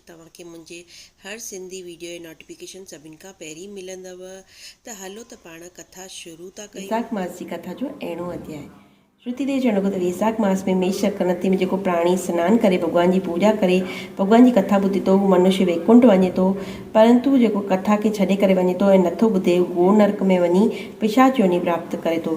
توهان کي منهنجي هر سنڌي ويڊيو جي نوٽيفڪيشن سڀن کان پهرين ملندؤ ته هلو ته پاڻ ڪٿا شروع ٿا ڪيون. ويساک ماس جي ڪٿا جو اهڙون اڌياء. شروتي ديوي جو چوڻ لڳو ته ويساک ماس ۾ ميش يا ڪڻتي ۾ جيڪو پراڻي سنان ڪري ڀڳوان جي پوڄا ڪري ڀڳوان جي ڪٿا ٻڌي ٿو هو منشي ويڪنٺ وڃي ٿو پرنتو جيڪو ڪٿا کي ڇڏي ڪري وڃي ٿو ۽ نٿو ٻڌي هو گور نرڪ ۾ وڃي پشاچ يوني پراپت ڪري ٿو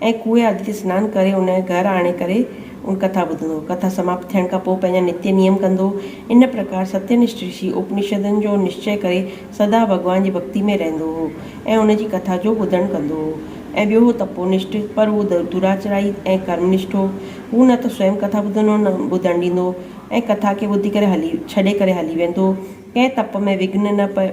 ۽ ڪوئي آدتي سنان ڪري ان کي گهر آڻي ڪري ان ڪٿا ٻڌندو. ڪٿا سماپت ٿيڻ کان پوء پنهنجا نتي نيم ڪندو. ان پرڪار ستينشٺ رشي اپنشدن جو نشچي ڪري سدا ڀڳوان جي ڀڳتي ۾ رهندو هو ۽ ان جي ڪٿا جو ٻڌڻ ڪندو هو. ۽ ٻيو هو تپونشٺ، پر هو دراچرائي ۽ ڪرمنشٺ هو. هو نه ته سوئم ڪٿا ٻڌندو هو نه ٻڌڻ ڏيندو هو ۽ ڪٿا کي ٻڌي ڪري هلي ڇڏي ڪري هلي ويندو هو. ڪنهن تپ ۾ وگهن نه پئي.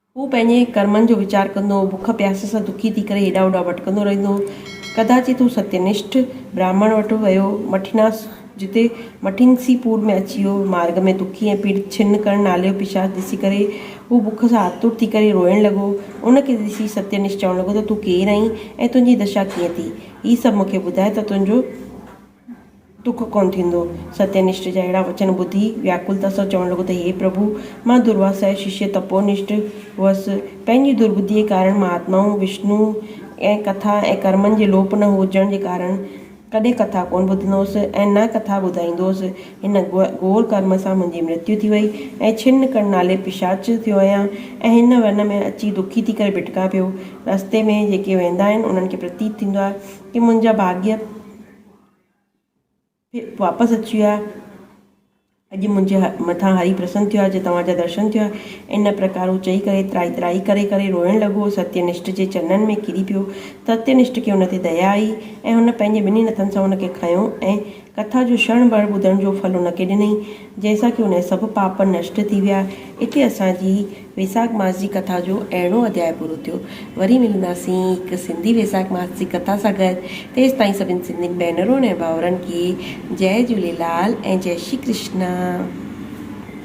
هو پنهنجي ڪرمن جو ويچار ڪندو هو، بک پياس سان دکي ٿي ڪري هيڏانهن هوڏانهن ڀٽڪندو رهندو هو. ڪداچي هو ستينشٺ براهمڻ وٽ ويو، مٺيناس جتي مٺينسي پور ۾ اچي ويو. مارگ ۾ دکي ۽ پيڙت ڇن ڪرڻ نالي جو پشاچ ڏسي ڪري هو بک سان آتر ٿي ڪري روئڻ لڳو. ان کي ڏسي ستينشٺ چوڻ لڳو ته تون ڪير آهين ۽ تنهنجي دشا ڪيئن ٿي؟ هي سڀ مون کي ٻڌاء ته تنهنجو. ڏک ڪونه ٿيندو. ستينشٽ جا اهڙا وچن ٻڌي وياڪلتا سان چوڻ لڳو ته هي پرڀو! مان درواسا جو ششيه تپونشٽ هئس. پنهنجي درٻڌيء ڪارڻ مهاتمائن وشنوء ۽ ڪٿا ۽ ڪرمن جي لوپ نه هجڻ جي ڪارڻ ڪڏهن ڪٿا ڪونه ٻڌندو هئس ۽ نه ڪٿا ٻڌائيندو هئس. هن گهور ڪرم سان منهنجي مرتيو ٿي وئي ۽ ڇن ڪڙ نالي پشاچ ٿيو آهيان ۽ هن ون ۾ اچي دکي ٿي ڪري ڀٽڪان پيو. رستي ۾ جيڪي ويندا آهن انهن کي پرتيت ٿيندو آهي ته منهنجا ڀاڳيء واپس اچي ويا. اڄ منهنجي مٿان هري پرسن ٿيو آهي جو توهان جا درشن ٿيو آهي. ان پرڪار هو چئي ڪري ترائي ترائي ڪري ڪري روئڻ لڳو. ستينشٽ جي چرنن ۾ ڪري پيو. ستينشٽ کي هن تي ديا آئي ۽ هن پنهنجي ٻنهي نٿن سان هن کي کنيو ۽ ڪٿا جو شڻ ڀر ٻڌڻ جو ڦل هن کي ڏنئي، جنهن سان ڪي هن جا سڀ پاپ نشٽ ٿي ويا. اتي اسان جي. ويساک ماس جي ڪٿا جو اهڙو اڌياء پورو ٿيو. وري ملنداسين هڪ سنڌي ويساک ماس جي ڪٿا سان گڏ. تيستائين سڀني سنڌين ڀينرن ۽ ڀائرن کي جئه جهوليلال ۽ جئه شري ڪرشنا.